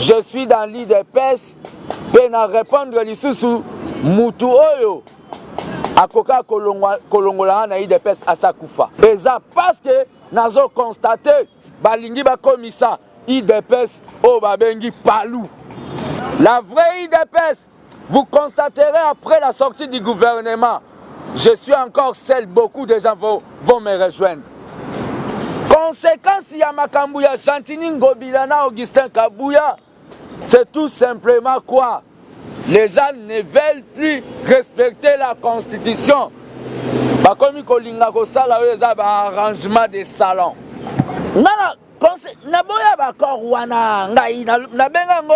je suis dans l'idps mpe na répondre lisusu mutu oyo akoka kolongola nga na idps asa kufa eza parceke nazo constate balingi bakomisa idps oyo babengi palu la vraie idps Vous constaterez après la sortie du gouvernement, je suis encore seul, beaucoup des gens vont, vont me rejoindre. Conséquence ya makambo ya Gentini Ngobila na Augustin Kabuya, c'est tout simplement quoi Les gens ne veulent plus respecter la constitution. Bakomi kolinga kosala oyo eza ba arrangement de salon. Nana, naboya ba accord wana ngai nabenga yango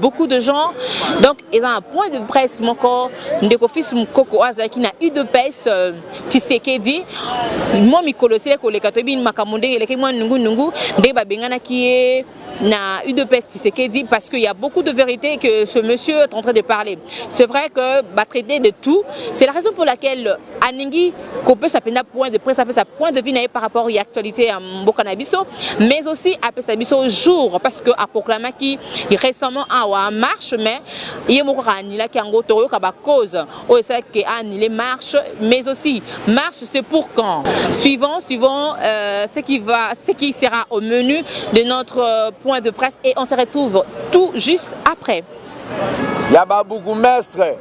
beaucoup de gens donc eza na point de presse moko ndeko fils mokoko oyo azalaki na udps euh, tisekedi mwa mikolo esili koleka toyebi makambo ndenge elekaki mwa nungunungu ndenge babenganaki ye na udps tisekedi parce qu'il y a beaucoup de vérité que ce monsieur est en train de parler c'est vrai que batraite de tout c'est la raison pour laquelle aningi kopesa mpenza point de presse apesa point de vue na ye par rapport ya actualité ya mboka na biso mais aussi apesa biso jour parce que aproclamaki récemment awa marche mais ye moko kaka anilaki yango tokoyoka bacause oyo esalaki ke anile marche mais aussi marche c'est pour quand suivant suivant euh, ce, qui va, ce qui sera au menu de notre euh, point de presse et on se retrouve tout juste après ya babourgmestre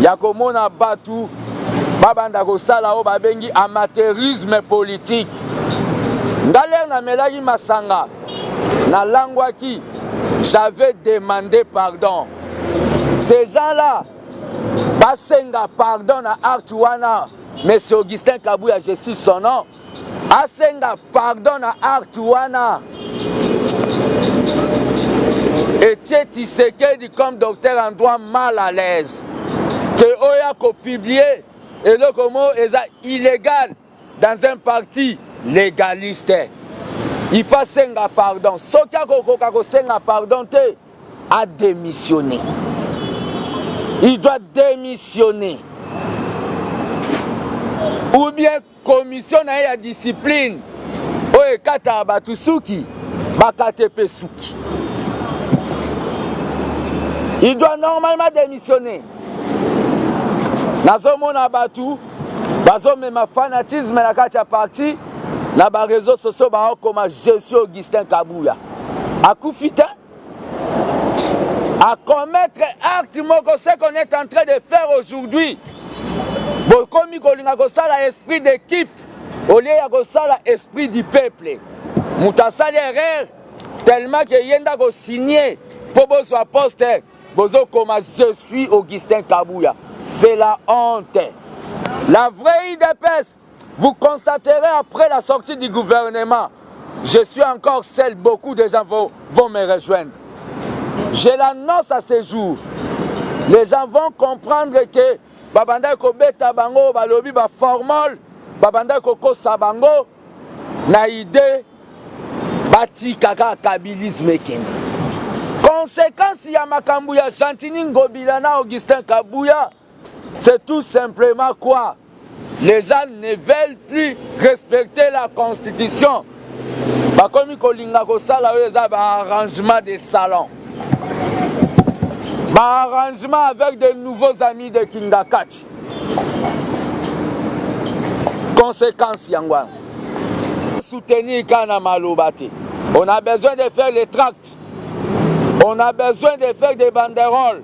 ya komona batu babanda kosala oyo babengi amateurisme politique nga lere namelaki masanga nalangwaki j'avais demandé pardon ces gens là basenga pardon na acte wana monsieur augustin kabuya je suis son nom Asenga pardon na art wana. Etie Tshisekedi comme docteur en droit mal à l'aise. Que oya ko publier eloko mo eza illégal dans un parti légaliste. Il faut senga pardon. Soki akokoka kosenga pardon te, a démissionner. Il doit démissionner. Ou bien Commission na ye ya discipline oyo ekataka bato suki bakate mpe suki. Il doit normalement démissionner. nazomona bato bazomema fanatisme na kati ya parti na bareseau sociaux baokoma je suis augustin kabuya akufi te a commettre acte moko ce qu'on est en train de faire aujourd'hui bokomi kolinga kosala esprit d'équipe au lieu ya kosala esprit du peuple moto asali erreur tellement ke ye nde akosigne mpo bozwa poste bozokoma je suis augustin kabuya c'est la honte la vraie idps Vous constaterez après la sortie du gouvernement, je suis encore seul, beaucoup des gens vont, vont me rejoindre. Je l'annonce à ce jour. Les gens vont comprendre que babanda kobeta bango balobi ba formol babanda kokosa bango na idée batika kaka kabilisme ekende konsekansi ya makambo ya gentini ngobila na augustin kabuya C'est tout simplement quoi Les gens ne veulent plus respecter la constitution. Bakomi kolinga kosala oyo eza ba arrangement de salon. Ba arrangement avec de nouveaux amis de Kingakati. Conséquence yango wana. Soutenir kana maloba te. On a besoin de faire les tracts. On a besoin de faire des banderoles.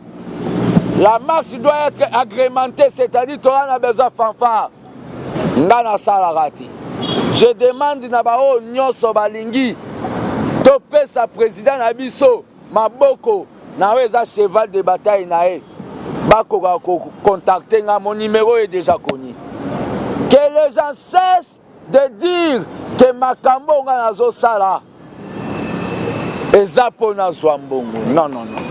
La marche doit être agrémentée, c'est-à-dire qu'on a besoin de fanfare. Ndana Salarati. Je demande na bao nyoso balingi topesa président na biso maboko na oyo eza cheval de bataille na ye bakoka kocontacte nga mon numéro est déjà connu que les gens cessent de dire que makambo oyo ngai nazosala eza mpo nazwa mbongo non non non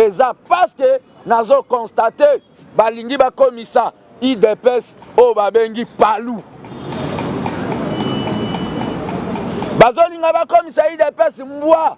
eza parce que nazo constate balingi bakomisa idps oyo babengi palu bazolinga bakomisa idps mbwa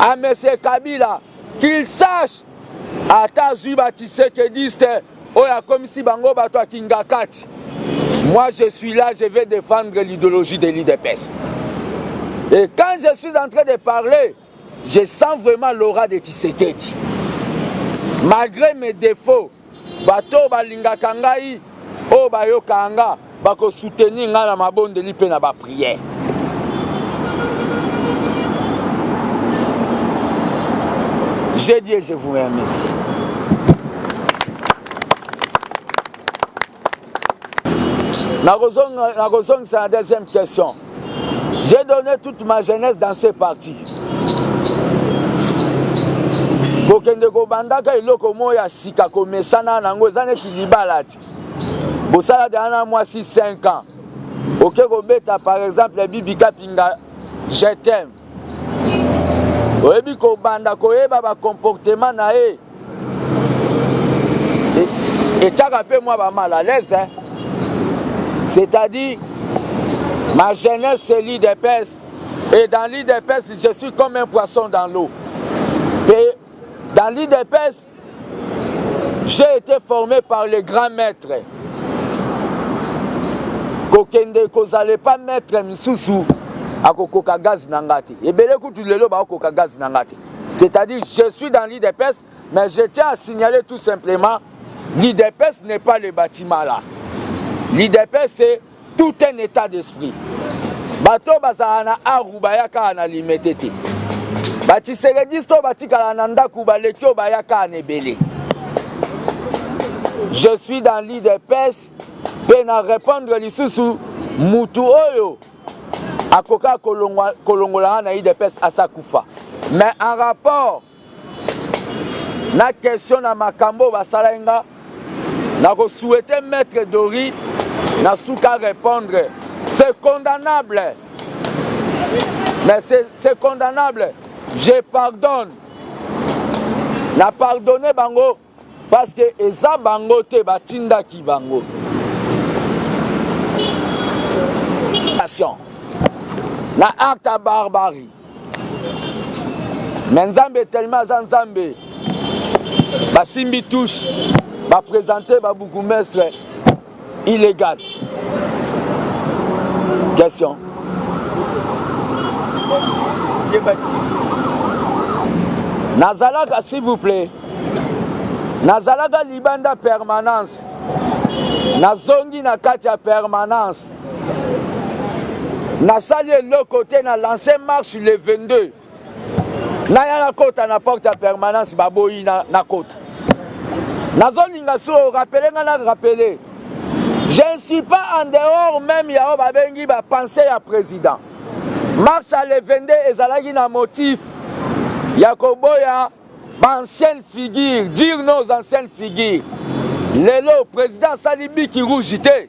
à monsieur kabila qu'il sache ata azwi ba tisekediste oyo akomisi bango bato ya kingakati moi je suis là je vais défendre l'idéologie de l'idps et quand je suis en train de parler je sens vraiment l'aura de tisekedi malgré mes défauts Bato oyo balingaka ngai, oyo bayokaka nga, bako soutenir ngai na mabondeli mpe na ba prières. J'ai dit et je vous remercie. nakozongisa na deuxième question j'ai donné toute ma jeunesse dans ces partis kokende kobandaka eloko moko ya sika komesana na yango eza neti libala ti bosala dana na mwasi 5 ans oke kobeta par exemple bibika pinga je t'aime oyebi kobanda koyeba bacomportement na ye etyaka mpe mwa bamal à l'aise hein? c'est-à-dire ma jeunesse c'est l'idps et dans l'idps je suis comme un poisson dans l'eau et dans l'idps J'ai été formé par le grand maître. Kokende kozala epa maître misusu akokoka gaz na nga te. Ebele kutu lelo bakokoka gaz na nga te. C'est-à-dire je suis dans l'IDPS mais je tiens à signaler tout simplement l'IDPS n'est pas le bâtiment là. L'IDPS c'est tout un etat d'esprit bato bazala na aru baya kaka na limete te batiserediste oyo batikala na ndako baleki oyo baya kaka na ebele je suis dans l'idps mpe na répondre lisusu mutu oyo akokaka kolongola nga na idps asa kufa mais en rapport na question na makambo oyo basala ye nga nakosouhaite maître dori na suka répondre c'est condamnable mais c'est condamnable je pardonne na pardonne bango Parce que eza bango te ba tindaki bango. Na acte ya barbarie. Mais Nzambe tellement aza Nzambe. Basimbi touche, ba presenter ba bourgmestre Illegal. Question. Nazalaka s'il vous plaît. Nazalaka libanda permanence. Nazongi na kati ya permanence. nasali eloko te na lance marche le 22 naya nakota na porte ya permanence baboyi nakota nazolinga so rapele nga na rapele je ne suis pas en dehors même ya oyo babengi bapense ya président marche ya le 22 ezalaki na motif ya koboya baancienne figure dire nos ancienne figure lelo président asali biki rouge te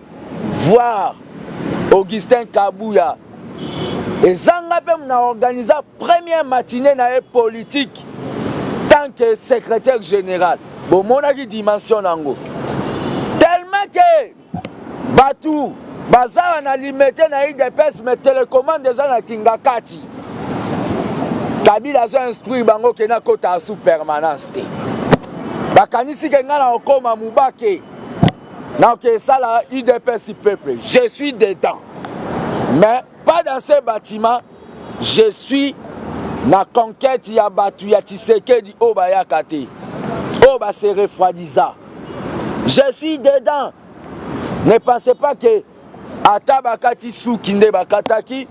voir Augustin Kabuya ezanga mpe na organisa première matinée na ye politique tant que secrétaire général bomonaki dimension na yango tellement ke bato bazawa na limete na idps me telecommande eza na kingakati kabila azo instruire bango ke nakota asu permanence te bakanisi ke ngai na kokoma mubake Naoke sala udps peuple, je suis dedans. Mais pas dans ce bâtiment, je suis na conquête ya batu ya Tshisekedi oyo bayaka te. Oyo ba se refroidisa. Je suis dedans. Ne pensez pas que Ata bakati suki nde bakataki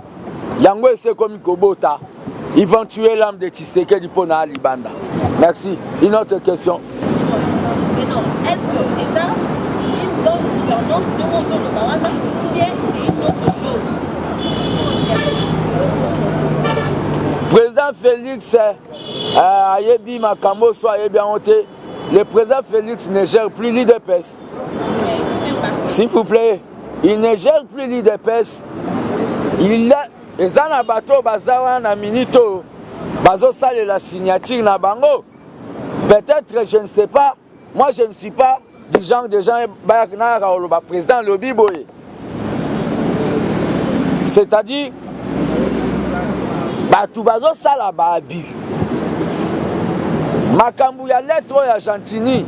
yango esi ekomi kobota ils vont tuer l'âme de Tshisekedi mpo na libanda merci une autre question Mais non, est ce que les armes, une bonne gouvernance de Mozono Bawana, ou bien c'est une autre chose président félix euh, ayebi makambo so ayebi yango te le président félix ne gère plus l'idps S'il vous plaît, il ne gère plus l'IDPS. Il a eza na bato baza wana na minute oyo bazosalela signature na bango peut-être je ne sais pas moi je ne suis pas du genre de gens bayaka nayaka koloba président lobi boye c'est-à-dire bato bazosala baabi makambo ya lettre oyo ya gentini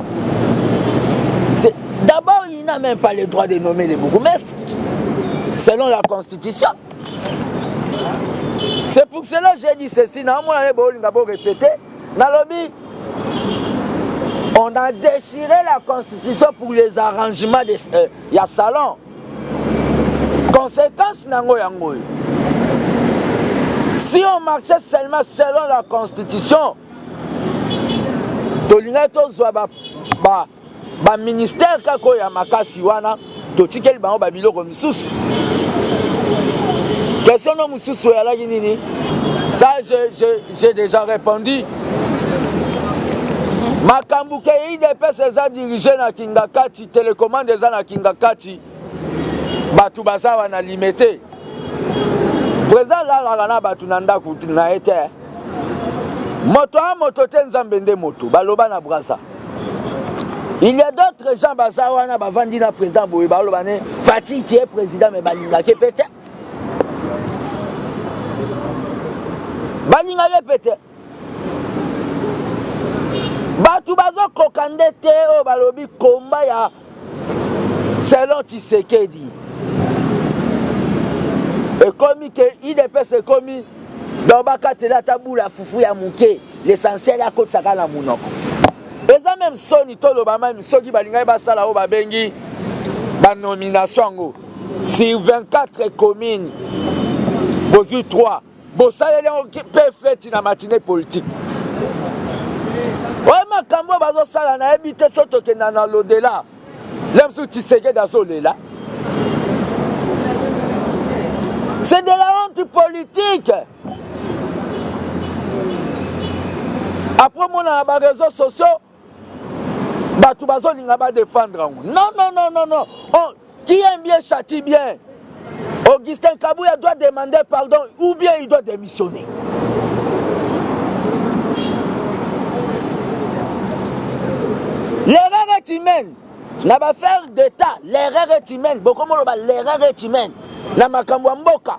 d'abord il n'a même pas le droit de nommer les bourgmestres selon la constitution c'est pour cela j'ai dit ceci naomona ye bolinga borepete nalobi on a déchiré la constitution pour les arrangements des, euh, ya salon conséquence na yango yango oyo si on marchait seulement selon la constitution tolingaki tozwa ba, ba, ba ministère kaka oyo ya makasi wana totikeli bango babiloko misusu question no mosusu oyalaki nini ça j'ai déjà répondu makambo ke idps eza dirige na kingakati Telecommande eza na kingakati batu baza wana limete president alalaka na batu na ndaku na ye te moto a moto te nzambe nde moto baloba na braza il y a d'autres gens baza wana bavandi na président boye baloba ne fati tie président me balingaki mpe te balingaki mpe te bato bazokoka nde te oyo balobi komba ya selon tshisekedi ekomi ke idps ekomi donc bakatela ata bula fufu ya moke l'essentiel akotisaka na monoko eza meme soni toloba meme soki balingaki basala oyo babengi banomination yango sur 24 commune bozwi 3 bosaleli yango mpe feti na matine politike oyo makambo oyo bazosala nayebi te so tokenda na lodela le mosusu tisekedi azolela c'est de la honte politique apres omonana bareseau sociaux bato bazolinga badefendre yango non non non non non oh, qui aime bien châtie bien augustin kabuya doit demander pardon ou bien il doit démissionner l'erreur est humaine na bafaire d'état l'erreur est humaine bokomoloba l'erreur est humaine na makambo ya mboka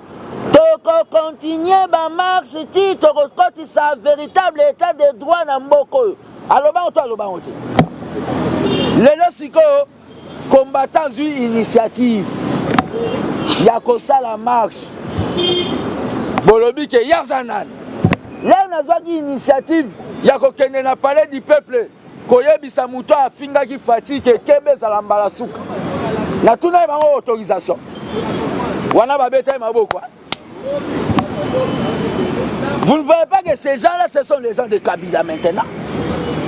Toko continuer ba marche ti toko kotisa veritable etat de droit na mboka oyo. Aloba ngo to aloba ngo te. Lelo sikoyo combattant azui initiative ya kosala marche bolobi ke yaza nani leo nazwaki initiative ya kokende na palais du peuple koyebisa moto oyo afingaki Fatshi ke keba ezala mbala suka. Natunaki bango autorisation wana babetaki maboko. Vous ne voyez pas que ces gens-là, ce sont les gens de Kabila maintenant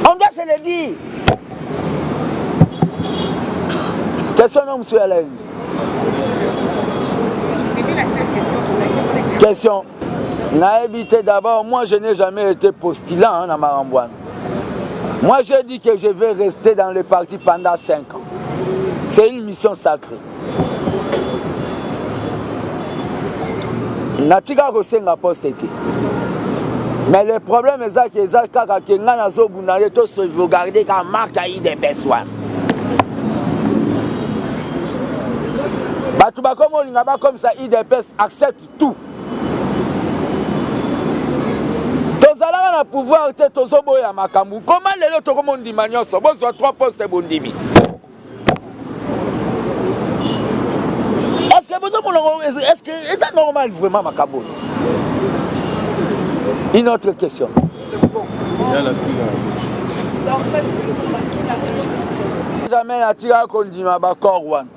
On doit se le dire. Question non, monsieur Alain. Question. Naïbité d'abord, moi je n'ai jamais été postulant hein, dans Marambouane. Moi j'ai dit que je vais rester dans le parti pendant 5 ans. C'est une mission sacrée. natika kosenga poste te mais le problème eza ke eza kaka ke ngai nazobunda nde to sauvegarde kaka marke ya idps wana bato bakomi olinga bakomisa idps accepte tout tozalaka na pouvoir te tozoboya makambo koma lelo tokomondima nyonso bozwa 3 poste bondimi estce bozomona estce eza normal vraiment makambo oyo une autre question jamais natikaka kondima bacor wana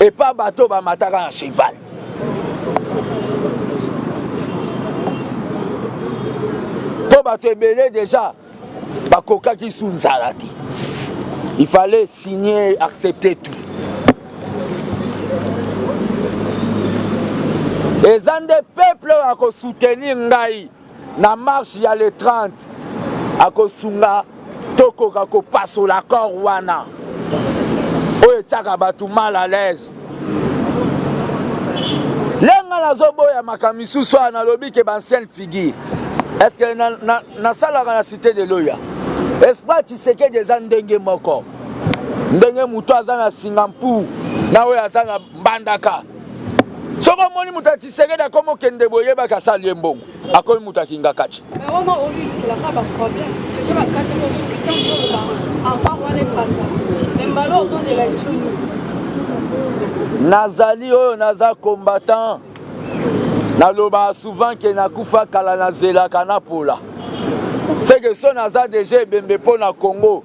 epa bato oyo bamataka na cheval mpo bato ebele deja bakokaki su nzala te il fallait signer accepter tout eza nde peuple oyo akosoutenir ngai na marche ya le 30 akosunga tokoka kopasola accord wana oyo etyaka bato mal à l'aise lenga nazoboya makambo misusu awa nalobi ke bancienne figure est ce que nasalaka na, na, na, na cité de loya esprit tisekedi eza ndenge moko ndenge moto aza na singampur na oyo aza na mbandaka soki omoni moto ya tisekedi akomi okende boye yebaki asali ye mbongo akomi moto ya kingakati nazali oyo naza combattant nalobaka souvent ke nakufa kala nazelaka napola seke so naza deja ebembe mpo na congo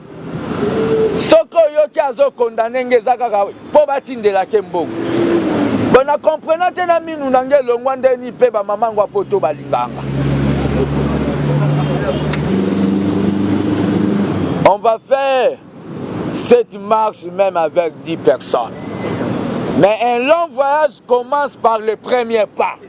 soki oyoki azo condamne nge eza kaka mpo batindela ke mbongo bon na comprena te na minu na nge elongwa ndeni mpe bamama yango ya poto balinganga on va faire cette marche même avec 10 personnes mais un long voyage commence par le premier pas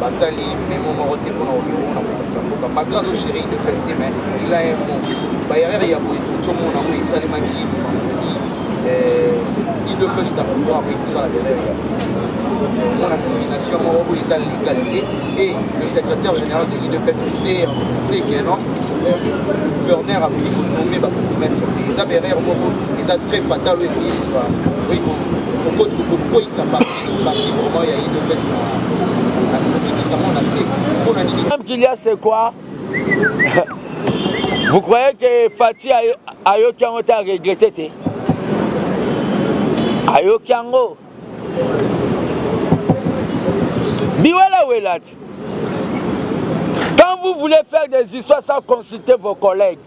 basali memo moko te mpona kokende komona mokonzi ya mboka malgre azo gere udps te mais il a un mot baerreur ya boye touti omona oyo esalemaki lubangozi udps na pouvoir boye kosala baerreur ya omona nomination moko oyo eza legal te et le secrétaire général de l'udps ser sekenon le gouverneur akoki konome bapromese te eza baerreur moko eza très fatal oyo ekoki kozwa okoki kokweyisa Parti vraiment ya Idopes na na kokitisa mwa na se mpo na nini? Même qu'il y a c'est quoi? Vous croyez que Fatih ayoki yango te a regretter te? Ayoki yango. Biwela welati. Quand vous voulez faire des histoires sans consulter vos collègues,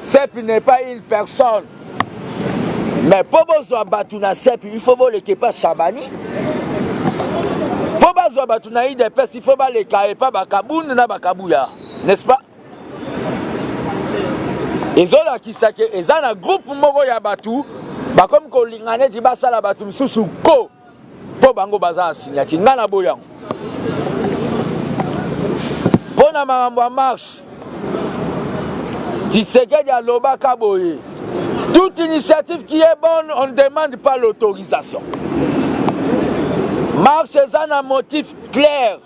CEP n'est pas une personne. Mais pour bozwa batu na CEP, il faut boleke pas Shabani. Pour bozwa batu na IDPS, il faut baleka et pas Bakabund na Bakabuya, n'est-ce pas? ezolakisa ke eza na groupe moko ya bato bakomi kolingana ete basala bato mosusu ko Po bango baza na signature, nga na boyango. Po na makambo ya marche, Tshisekedi alobaka boye, toute initiative qui est bonne, on ne demande pas l'autorisation. Marche eza na motif clair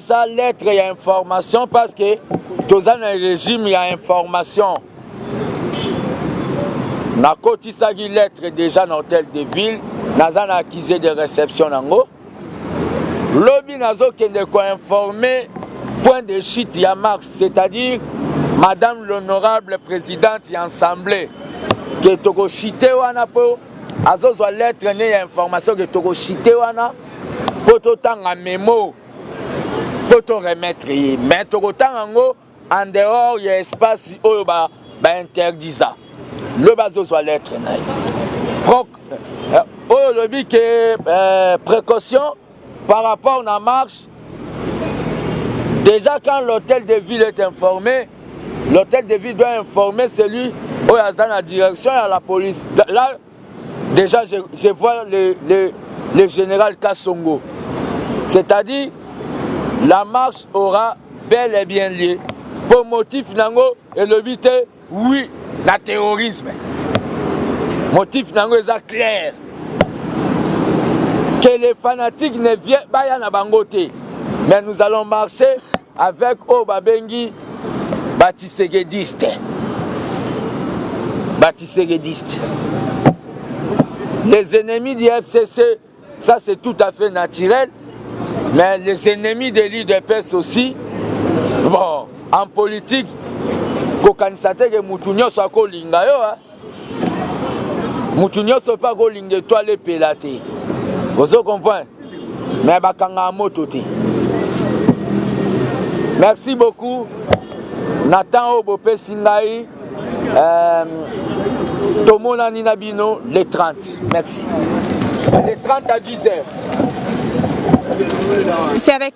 sa lettre ya information parce que toza na regime ya information nakotisaki lettre déjà na hôtel de ville naza na accusé de réception nango lobi nazokende koinforme point de chute ya marche c'est-à-dire madame l'honorable présidente ya assemblée ke tokochite wana mpo azozwa lettre ne ya information ke tokochite wana mpo totanga memo po to remettre ye mais tokotanga yango en dehors ya espace oyo ba ba interdisa lobi azozwa lettre na ye proc euh, oyo olobi ke euh, précaution par rapport na marche déjà quand l'hôtel de ville est informé l'hôtel de ville doit informer celui oyo aza na direction ya la police la, Deja je, je vois le, le, le general Kassongo. C'est-à-dire la marche aura bel et bien lieu mpo motif nango elobi te oui na terrorisme motif nango eza claire que les fanatiques ne viennent baya na bango te mais nous allons marcher Avec oyo babengi ba tshisekediste ba tshisekediste les ennemis du fcc ça c'est tout à fait naturel mais les ennemis de l'udps aussi bon en politique kokanisa te ke mutu nyonso akolinga yo hein? mutu nyonso mpe akolinga etwale epela te ozo comprendre me bakangaka moto te merci beaucoup na temps oyo bopesi ngai euh, tomonani na bino le 30 merci le 30 à 10 heures c'est avec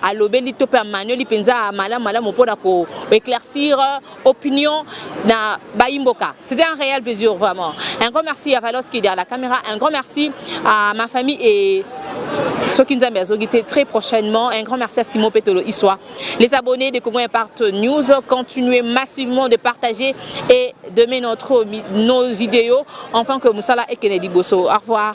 alobeli to mpe amanioli mpenza malamu malamu mpo na ko éclaircir euh, opinion na bayimboka c'était un réel plaisir vraiment un grand merci à Valos qui est derrière la caméra un grand merci à ma famille et soki nzambe azoki te très prochainement un grand merci à simon petolo iswa les abonnés de congo impact news continuez massivement de partager et de mettre notre nos vidéos enfin que mosala ekende liboso au revoir